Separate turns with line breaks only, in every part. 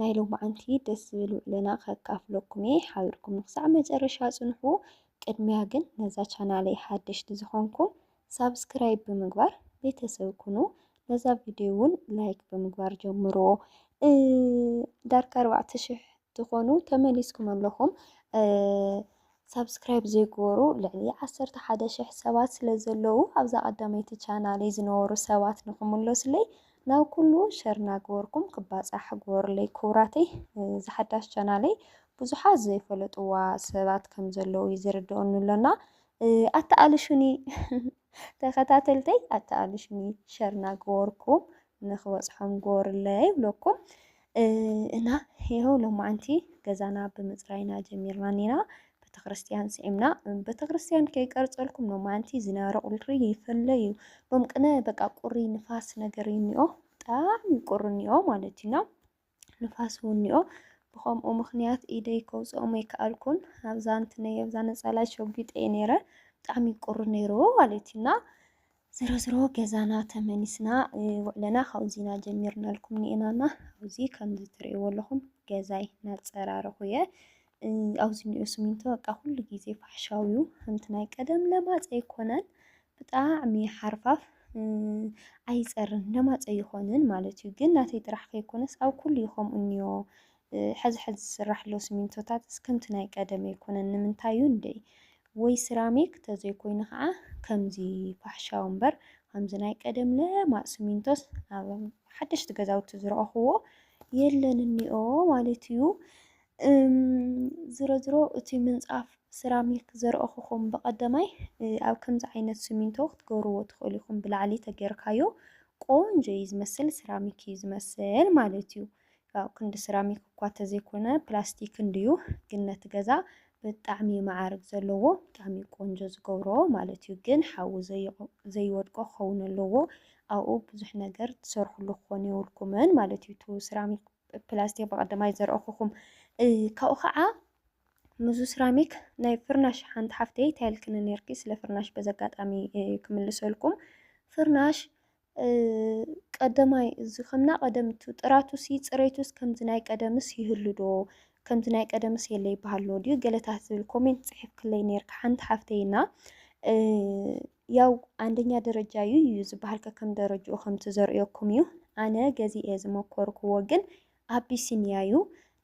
ናይ ሎምዓንቲ ደስ ዝብል ውዕሎና ከካፍለኩም እየ ሓቢርኩም ንክሳዕ መጨረሻ ጽንሑ ቅድሚያ ግን ነዛ ቻናለይ ሓደሽቲ ዝኾንኩም ሳብስክራይብ ብምግባር ቤተሰብ ኩኑ ነዛ ቪድዮ እውን ላይክ ብምግባር ጀምሮ ዳርጋ ኣርባዕተ ሽሕ ትኾኑ ተመሊስኩም ኣለኹም ሳብስክራይብ ዘይገበሩ ልዕሊ ዓሰርተ ሓደ ሽሕ ሰባት ስለ ዘለዉ ኣብዛ ቀዳመይቲ ቻናለይ ዝነበሩ ሰባት ንክምለሱለይ ናብ ኩሉ ሸር እናገበርኩም ክባፃሕ ግበሩለይ ክቡራተይ እዚ ሓዳሽ ቻናለይ ብዙሓት ዘይፈለጥዋ ሰባት ከም ዘለዉ እዩ ዝርድኦኒ ኣሎና ኣተኣልሹኒ ተኸታተልተይ ኣተኣልሹኒ ሸር እናገበርኩም ንክበፅሖም ጎርለ ይብለኩም እና ይኸው ሎማዓንቲ ገዛና ብምፅራይና ጀሚርና ኒና ቤተክርስትያን ስዒምና ቤተክርስትያን ከይቀርፀልኩም ሎማዓንቲ ዝናረ ቁሪ ይፈለ እዩ ሎም ቅነ በቃ ቁሪ ንፋስ ነገር እኒኦ ብጣዕሚ ቁሪ እኒኦ ማለት እዩና ንፋስ እውንዮ። ብኸምኡ ምኽንያት ኢደይ ከውፅኦም ኣይከኣልኩን። ኣብዛ እንትነይ ኣብዛ ነፃላይ ሸጒጠ እየ ነይረ። ብጣዕሚ ቁሪ ነይሩ ማለት እዩ እና ዝሮዝሮ ገዛና ተመሊስና ውዕለና ካብዚና ጀሚርናልኩም ኒኤናና ኣብዚ ከምዚ ትርእይዎ ኣለኹም ገዛይ ናፀራረኹ እየ ኣብዚ እንኦ ስሚንቶ በቃ ኩሉ ግዜ ፋሕሻው እዩ ከምቲ ናይ ቀደም ለማፅ ኣይኮነን ብጣዕሚ ሓርፋፍ ኣይፀርን ለማፅ ኣይኾንን ማለት እዩ። ግን ናተይ ጥራሕ ከይኮነስ ኣብ ኩሉ እዩ ከምኡ እንኦ ሕዚ ሕዚ ዝስራሕ ዘሎ ስሚንቶታትስ ከምቲ ናይ ቀደም ኣይኮነን ንምንታይ እዩ እንዴ ወይ ስራሚክ ተዘይኮይኑ ከዓ ከምዚ ፋሕሻው እምበር ከምዚ ናይ ቀደም ለማፅ ስሚንቶስ ኣብ ሓደሽቲ ገዛውቲ ዝረኣኹዎ የለን እንኦ ማለት እዩ። እም ዝሮዝሮ እቲ ምንጻፍ ስራሚክ ዘርኦኹኹም ብቀደማይ ኣብ ከምዚ ዓይነት ስሚንቶ ክትገብርዎ ትኽእሉ ኢኹም ብላዕሊ ተገርካዮ ቆንጆ እዩ ዝመስል ስራሚክ እዩ ዝመስል ማለት እዩ ያው ክንዲ ስራሚክ እኳ ተዘይኮነ ፕላስቲክ እንድዩ ግን ነቲ ገዛ ብጣዕሚ መዓርግ ዘለዎ ብጣዕሚ ቆንጆ ዝገብሮ ማለት እዩ ግን ሓዊ ዘይወድቆ ክኸውን ኣለዎ ኣብኡ ብዙሕ ነገር ትሰርሕሉ ክኾኑ የብልኩምን ማለት እዩ እቲ ስራሚክ ፕላስቲክ ብቐዳማይ ዘርኣኹኹም ካብኡ ከዓ ምዙ ስራሚክ ናይ ፍርናሽ ሓንቲ ሓፍተይ እንታይ ኢልክኒ ነርኪ ስለ ፍርናሽ በዚ ኣጋጣሚ ክምልሰልኩም ፍርናሽ ቀደማይ እዚ ከምና ቀደምቱ ጥራቱሲ ፅሬቱስ ከምዚ ናይ ቀደምስ ይህሉ ዶ ከምዚ ናይ ቀደምስ የለ ይበሃሎ ድዩ ገለታት ዝብል ኮሜንት ፅሒፍክለይ ነርኪ ሓንቲ ሓፍተይና ያው ኣንደኛ ደረጃ እዩ እዩ ዝበሃል ከከም ደረጅኡ ከምቲ ዘርእየኩም እዩ ኣነ ገዚኤ ዝመኮርክዎ ግን ኣቢሲንያ እዩ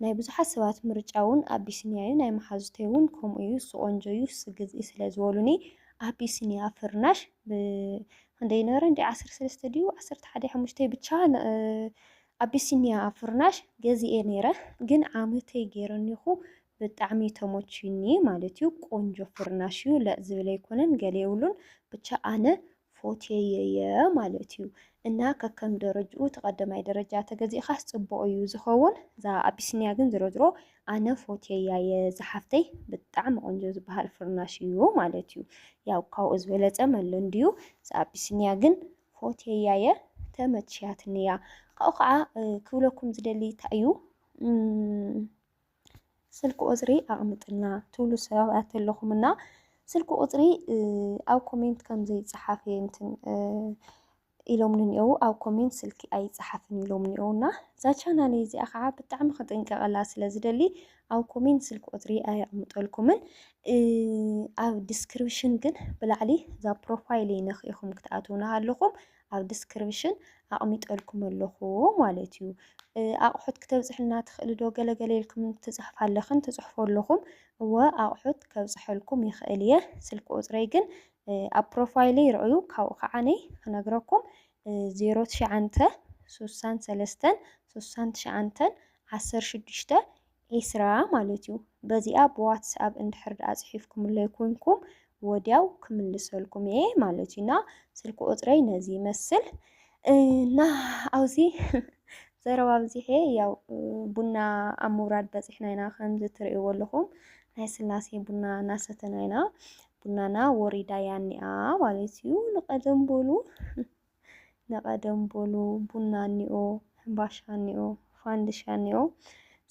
ናይ ብዙሓት ሰባት ምርጫ እውን ኣቢሲንያ እዩ ናይ መሓዙተይ እውን ከምኡ እዩ እሱ ቆንጆ እዩ እሱ ግዝኢ ስለ ዝበሉኒ ኣቢሲንያ ፍርናሽ ብክንደይ ነበረ እንዲ ዓሰርተ ሰለስተ ድዩ ዓሰርተ ሓደ ሓሙሽተይ ብቻ ኣቢሲንያ ፍርናሽ ገዚኤ ነይረ ግን ዓመተይ ገይረኒኹ ብጣዕሚ ተሞችዩኒ ማለት እዩ ቆንጆ ፍርናሽ እዩ ለእ ዝብል ኣይኮነን ገለ የብሉን ብቻ ኣነ ፎቴየየ ማለት እዩ እና ከከም ደረጅኡ እቲ ቀደማይ ደረጃ ተገዚእኻስ ፅቡቕ እዩ ዝኸውን እዛ ኣቢሲንያ ግን ዝሮ ዝሮ ኣነ ፎቴያ እየ ዝሓፍተይ ብጣዕሚ ቆንጆ ዝበሃል ፍርናሽ እዩ ማለት እዩ ያው ካብኡ ዝበለፀ መሎ እንድዩ እዛ ኣቢሲንያ ግን ፎቴያ እየ ተመችያትኒ እያ ካብኡ ከዓ ክብለኩም ዝደሊ እንታይ እዩ ስልኪ ቁፅሪ ኣቅምጥልና ትብሉ ሰባት ኣለኹም እና ስልኪ ቁፅሪ ኣብ ኮሜንት ከምዘይፀሓፍ እንትን ኢሎም ንኒአው ኣብ ኮሜንት ስልኪ ኣይፀሓፍን ኢሎም ንኒአው እና እዛ ቻናል እዚኣ ከዓ ብጣዕሚ ክጥንቀቐላ ስለ ዝደሊ ኣብ ኮሜንት ስልኪ ቁፅሪ ኣየቕምጠልኩምን ኣብ ዲስክሪፕሽን ግን ብላዕሊ እዛ ፕሮፋይል ነኽኢኹም ክትኣትውና ኣለኹም ኣብ ድስክርብሽን ኣቅሚጠልኩም ኣለኩ ማለት እዩ ኣቅሑት ክተብፅሕልና ትክእሊ ዶ ገለ ገለ ኢልክም ትፅሕፋ ኣለክን ትፅሕፉ ኣለኩም እወ ኣቅሑት ከብፅሐልኩም ይክእል እየ ስልኪ ቁፅረይ ግን ኣብ ፕሮፋይለይ ረኣዩ ካብኡ ከዓ ነይ ክነግረኩም ዜሮ ትሽዓንተ ሱሳን ሰለስተን ሱሳን ትሽዓንተን ዓሰርተ ሽዱሽተ ኤስራ ማለት እዩ በዚኣ ብዋትስኣብ እንድሕር ድኣ ጽሒፍኩምለይ ኩንኩም ወድያው ክምልሰልኩም እየ ማለት እዩ እና ስልኪ ቁጽረይ ነዚ ይመስል እና ኣብዚ ዘረባ ኣብዚሐ ያው ቡና ኣብ ምውራድ በጺሕና ኢና ከምዚ ትርእይዎ ኣለኹም ናይ ስላሴ ቡና እናሰተና ኢና ቡናና ወሪዳ እያ እኒኣ ማለት እዩ ንቀደም በሉ ንቐደም በሉ ቡና እኒኦ፣ ሕምባሻ እኒኦ፣ ፋንድሻ እኒኦ፣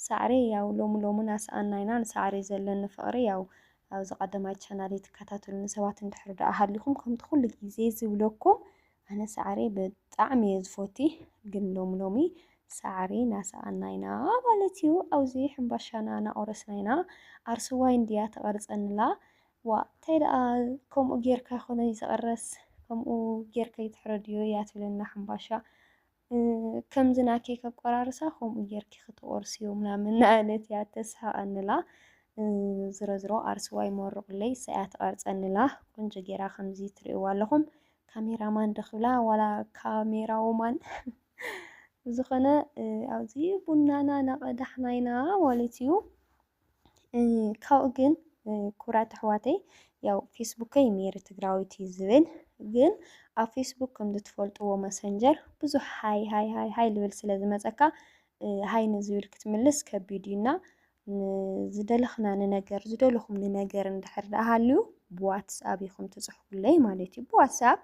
ሳዕሪ ያው ሎሚ ሎሚ ናሰኣና ኢና ንሳዕሪ ዘለኒ ፍቕሪ ያው ኣብዚ ቀዳማይ ቻናለይ ትከታተሉኒ ሰባት እንድሕር ደኣ ሃሊኹም ከምቲ ኩሉ ግዜ ዝብለኩም ኣነ ሳዕሪ ብጣዕሚ እየ ዝፎቲ ግን ሎሚ ሎሚ ሳዕሪ ናሰኣና ኢና ማለት እዩ ኣብዚ ሕምባሻና ናቆረስና ኢና ኣርሱዋይ እንድያ ተቐርፀንላ ዋእ ታይ ደኣ ከምኡ ጌርካ ኣይኮነይ ዝቅረስ ከምኡ ጌርካ ኣይትሕረድዮ እያ ትብለና ሕምባሻ ከምዚ ናተይ ከቆራርሳ ከምኡ ጌርኪ ክትቆርስዮ ምናምን ናበለት እያ ተስሕቀንላ ዝሮዝሮ ኣርስዋይ ሞሩቅለይ እሳ እያ ትቀርፀንላ ቆንጆ ጌራ ከምዚ ትሪእዋ ኣለኹም ካሜራ ማን ዶ ክብላ ዋላ ካሜራ ወማን ብዝኾነ ኣብዚ ቡናና ናቀዳሕና ኢና ማለት እዩ። ካብኡ ግን ክብራት ኣሕዋተይ ያው ፌስቡከይ ሜሪ ትግራዊት እዩ ዝብል ግን ኣብ ፌስቡክ ከምዚ ትፈልጥዎ መሰንጀር ብዙሕ ሃይ ሃይ ሃይ ሃይ ልብል ስለ ዝመፀካ ሃይ ንዝብል ክትምልስ ከቢድ እዩና ዝደለኽና ንነገር ዝደለኹም ንነገር እንድሕር ደኣ ሃልዩ ብዋትስኣብ ኢኹም ትፅሕፉለይ ማለት እዩ። ብዋትስኣብ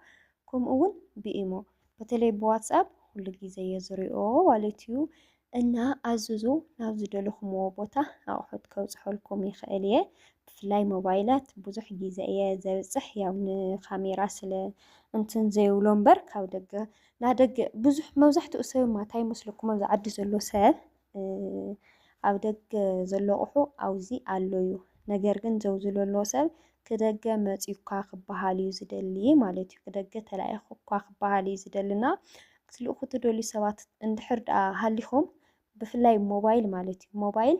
ከምኡ እውን ብኢሞ በተለይ ብዋትስኣፕ ኩሉ ግዜ እየ ዝሪኦ ማለት እዩ እና ኣዝዙ ናብ ዝደለኹምዎ ቦታ ኣቑሑት ከብፅሐልኩም ይኽእል እየ ብፍላይ ሞባይላት ብዙሕ ግዜ እየ ዘብፅሕ ያው ንካሜራ ስለ እንትን ዘይብሎ እምበር ካብ ደገ ናብ ደገ ብዙሕ መብዛሕትኡ ሰብማ እንታይ ይመስለኩም ኣብዚ ዓዲ ዘሎ ሰብ ኣብ ደገ ዘሎ ኣቁሑ ኣውዚ ኣሎ ዩ ነገር ግን ዘውዚ ለሎ ሰብ ክደገ መጽዩካ ክበሃል ዩ ዝደሊ ማለት ዩ ክደገ ተላኢኩካ ክበሃል ዩ ዝደሊ እና ክትልእኩ ትደልዩ ሰባት እንድሕር ደኣ ሃሊኩም ብፍላይ ሞባይል ማለት ዩ ሞባይል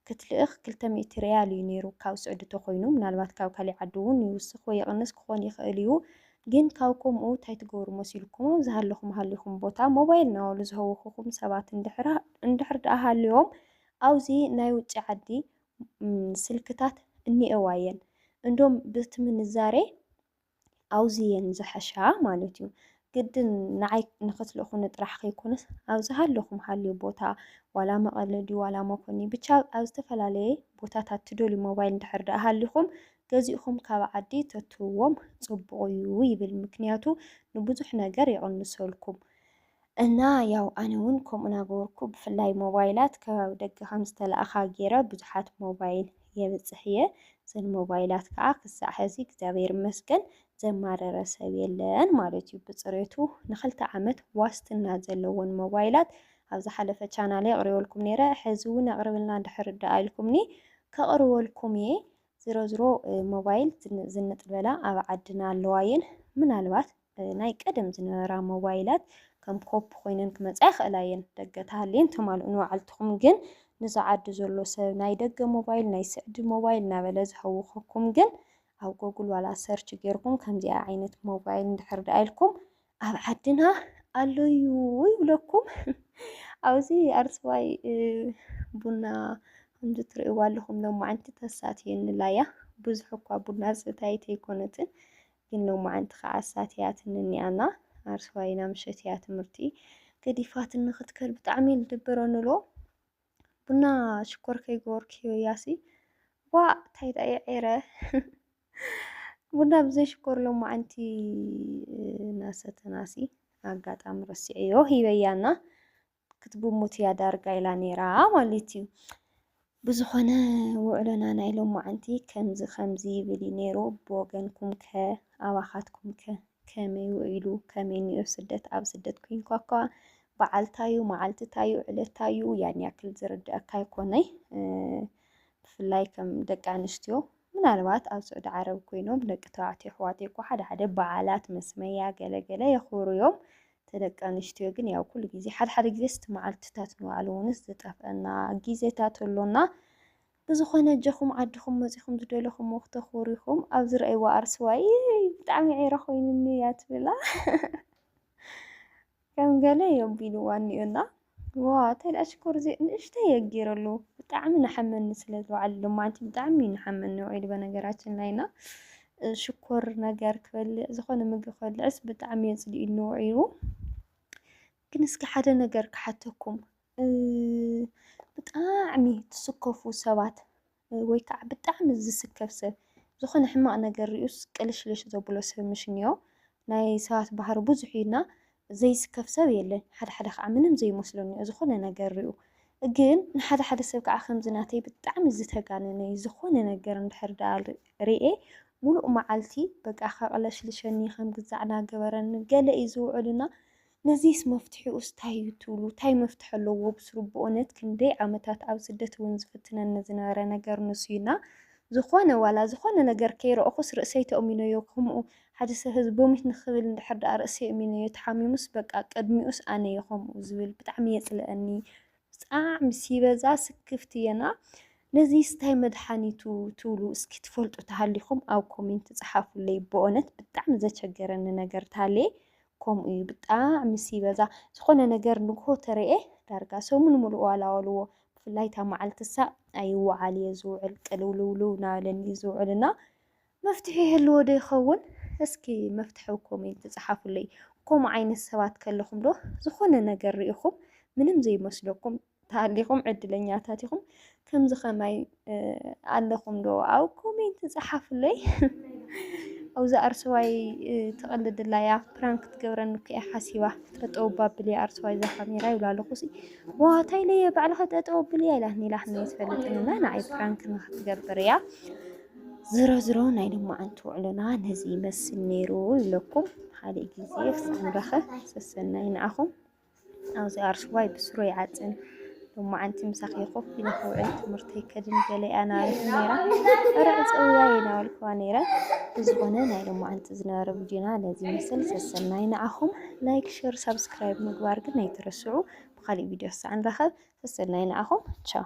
ክትልእክ ክልተ ሚእቲ ርያል ዩ ኔሩ ካብ ስዑዲ ተኮይኑ ምናልባት ካብ ካሊእ ዓዲ ውን ይውስክ ወይ ይቅንስ ክኮን ይክእል ዩ ግን ካብ ኮምኡ ታይ ትገብሩ መሲልኩም ዝሃለኹም ሃሊኹም ቦታ ሞባይል ናበሉ ዝሀውኹኹም ሰባት እንድሕር እንድሕር ድኣ ሃልዮም ኣውዚ ናይ ውጪ ዓዲ ስልክታት እኒኤዋ እየን እንዶም ብቲ ምንዛሬ ኣውዚ እየን ዝሐሻ ማለት እዩ ግድን ንዓይ ንክትልእኹኒ ጥራሕ ከይኮነስ ኣብ ዝሃለኹም ሃልዩ ቦታ ዋላ መቐለ ድዩ ዋላ መኮኒ ብቻ ኣብ ዝተፈላለየ ቦታታት ትደልዩ ሞባይል እንድሕር ድኣ ሃሊኹም ገዚእኹም ካብ ዓዲ ተትህብዎም ጽቡቕ እዩ ይብል ምክንያቱ ንብዙሕ ነገር ይቕንሰልኩም እና ያው ኣነ ውን ከምኡ ናገበርኩ ብፍላይ ሞባይላት ከባቢ ደገ ከም ዝተላእኻ ጌረ ብዙሓት ሞባይል የብጽሕ እየ ዘን ሞባይላት ከዓ ክሳዕ ሕዚ እግዚኣብሔር ይመስገን ዘማረረ ሰብ የለን ማለት እዩ ብጽሬቱ ንክልተ ዓመት ዋስትና ዘለወን ሞባይላት ኣብ ዝሓለፈ ቻናለይ ኣቕሪበልኩም ነይረ ሕዚ እውን ኣቕርብልና እንድሕር ደኣ ኢልኩምኒ ከቕርበልኩም እየ ዝሮ ዝሮ ሞባይል ዝንጥ ዝበላ ኣብ ዓድና ኣለዋ እየን። ምናልባት ናይ ቀደም ዝነበራ ሞባይላት ከም ኮፒ ኮይነን ክመጻ ይኽእላ እየን። ደገ ተሃልየን ተማልኡ ንባዕልትኹም ግን ንዚ ዓዲ ዘሎ ሰብ ናይ ደገ ሞባይል ናይ ስዕዲ ሞባይል እናበለ ዝሀውኸኩም ግን ኣብ ጎግል ዋላ ሰርች ጌርኩም ከምዚኣ ዓይነት ሞባይል እንድሕር ደኣ ኢልኩም ኣብ ዓድና ኣሎዩ ይብለኩም ኣብዚ ኣርስዋይ ቡና ከምዚ ትርእይዋ ኣለኹም ሎማዓንቲ ተሳትየንላ እያ ብዙሕ እኳ ቡና ዝሰታየት ኣይኮነትን ግን ሎማዓንቲ ከዓ ኣሳትያትኒ እኒኣና ኣርስዋይና ምሸት እያ ትምህርቲ ገዲፋትን ንክትከድ ብጣዕሚ እዩ ዝድብረኒ ኣሎ ቡና ሽኮር ከይገበርክዮ ያሲ ዋ እንታይ ዳእየ ዔረ ቡና ብዘይ ሽኮር ሎማዓንቲ ናሰተናሲ ኣጋጣሚ ረሲዐዮ ሂበያና ክትጉሙት እያ ዳርጋ ኢላ ነይራ ማለት እዩ። ብዝኾነ ውዕሎና ናይ ሎማዓንቲ ከምዚ ከምዚ ይብል እዩ ነይሩ ብወገንኩም ከ ኣባኻትኩም ከ ከመይ ውዒሉ ከመይ ንዮ ስደት ኣብ ስደት ኩንኳ እኳ በዓልታዩ መዓልትታዩ ዕለታዩ ያን ያክል ዝርድኣካ ኣይኮነይ ብፍላይ ከም ደቂ ኣንስትዮ ምናልባት ኣብ ስዑዲ ዓረብ ኮይኖም ደቂ ተባዕትዮ ኣሕዋተይ እኮ ሓደ ሓደ በዓላት መስመያ ገለ ገለ የኽብሩ እዮም እቲ ደቂ ኣንስትዮ ግን ያው ኩሉ ግዜ ሓደ ሓደ ግዜስ እቲ መዓልትታት ንባዕሉ እውንስ ዝጠፍአና ግዜታት ኣሎና ብዝኾነ ጀኹም ዓድኹም መጺኹም ዝደለኹምዎ ክተኽብሩ ኢኹም ኣብ ዝረኣይዎ ኣርስዋይ ብጣዕሚ ዒረ ኮይኑኒ እያ ትብላ ከም ገለ የቢልዋ እኒኦ እና ዋእ ታይ ድኣ ሽኮር ዘይ ንእሽተይ እየ ጌረሉ ብጣዕሚ ናሓመኒ ስለ ዝወዓለ ሎማዓንቲ ብጣዕሚ እዩ ናሓመኒ ውዒሉ በነገራችን ላይ እና ሽኮር ነገር ክበልዕ ዝኾነ ምግቢ ክበልዕስ ብጣዕሚ እዩ ኣፅሊኡኒ ውዒሉ ግን እስኪ ሓደ ነገር ክሓተኩም ብጣዕሚ ትስከፉ ሰባት ወይ ከዓ ብጣዕሚ ዝስከፍ ሰብ ዝኾነ ሕማቕ ነገር ሪኡስ ቅልሽልሽ ዘብሎ ሰብ ምሽ እንዮ። ናይ ሰባት ባህሪ ብዙሕ እዩ እና ዘይስከፍ ሰብ የለን ሓደ ሓደ ከዓ ምንም ዘይመስሎ እንዮ ዝኾነ ነገር ሪኡ ግን ንሓደ ሓደ ሰብ ከዓ ከምዚ ናተይ ብጣዕሚ ዝተጋነነ እዩ ዝኾነ ነገር እንድሕር ደኣ ሪኤ ሙሉእ መዓልቲ በቃ ከቕለሽልሸኒ ከም ግዛዕ ናገበረኒ ገለ እዩ ዝውዕል እና ነዚስ መፍትሒኡስ ታይ እዩ ትብሉ? ታይ መፍትሒ ኣለዎ ብስሩ? ብኡነት ክንደይ ዓመታት ኣብ ስደት እውን ዝፍትነኒ ዝነበረ ነገር ንሱ እዩ እና ዝኾነ ዋላ ዝኾነ ነገር ከይረእኹስ ርእሰይ ተእሚነዮ ከምኡ ሓደ ሰብ ሕዚ ቦሚት ንክብል እንድሕር ደኣ ርእሰይ እሚነዮ ተሓሚሙስ በቃ ቅድሚኡስ ኣነ እየ ከምኡ ዝብል ብጣዕሚ የፅልኣኒ ብጣዕሚ ሲበዛ ስክፍቲ እየ እና ነዚስ ታይ መድሓኒቱ ትብሉ እስኪ ትፈልጡ ተሃሊኹም ኣብ ኮሜንት ፀሓፉለይ ብኡነት ብጣዕሚ ዘቸገረኒ ነገር ታሌ ከምኡ እዩ ብጣዕሚ ሲበዛ ዝኾነ ነገር ንግሆ ተረኤ ዳርጋ ሰሙን ሙሉእ ዋላዋልዎ ብፍላይ እታ ማዓልቲ ሳዕ ኣይዋዓል እየ ዝውዕል ቅልውልውልው ናበለኒ እዩ ዝውዕል እና መፍትሒ ይህልዎ ዶ ይኸውን እስኪ መፍትሒ ኣብ ኮሜንቲ ጻሓፉለይ ከምኡ ዓይነት ሰባት ከለኹም ዶ ዝኾነ ነገር ሪኢኹም ምንም ዘይመስለኩም ተሃሊኹም ዕድለኛታት ኢኹም። ከምዚ ከማይ ኣለኹም ዶ ኣብ ኮሜንት ጸሓፉለይ። ኣብዚ ኣርሰዋይ ትቐልድላ እያ ፕራንክ ትገብረኒ እኮ እያ ሓሲባ ጠጠው ባብል እያ ኣርሰዋይ እዛ ካሜራ ይብላ ኣለኹ ሲ ዋታይ ለየ ባዕልኻ ጠጠው ብል እያ ኢላትኒ ኢላትኒ ትፈልጥንና ንዓይ ፕራንክ ንክትገብር እያ ዝሮ ዝሮ ናይ ልማዓንቲ ውዕሎና ነዚ ይመስል ነይሩ ይብለኩም ሓደ ግዜ ክሳዕ ንረኸብ ሰሰናይ ንዓኹም ኣብዚ ኣርሽዋይ ብስሩ ይዓጽን። ሎማዓንቲ ምሳኺ ኮፍ ኢለ ክውዕል ትምህርተይ ከድን ገለ እያ ናበለትኒ ነይራ። እረ ዕጸውያ ይናበልክዋ ነይረ። ብዝኾነ ናይ ሎማዓንቲ ዝነበረ ቪድዮና ነዚ ይመስል። ሰሰናይ ንዓኹም። ላይክ፣ ሼር፣ ሳብስክራይብ ምግባር ግን ኣይትረስዑ። ብኻሊእ ቪድዮ ክሳዕ ንራኸብ ሰሰናይ ንዓኹም። ቻው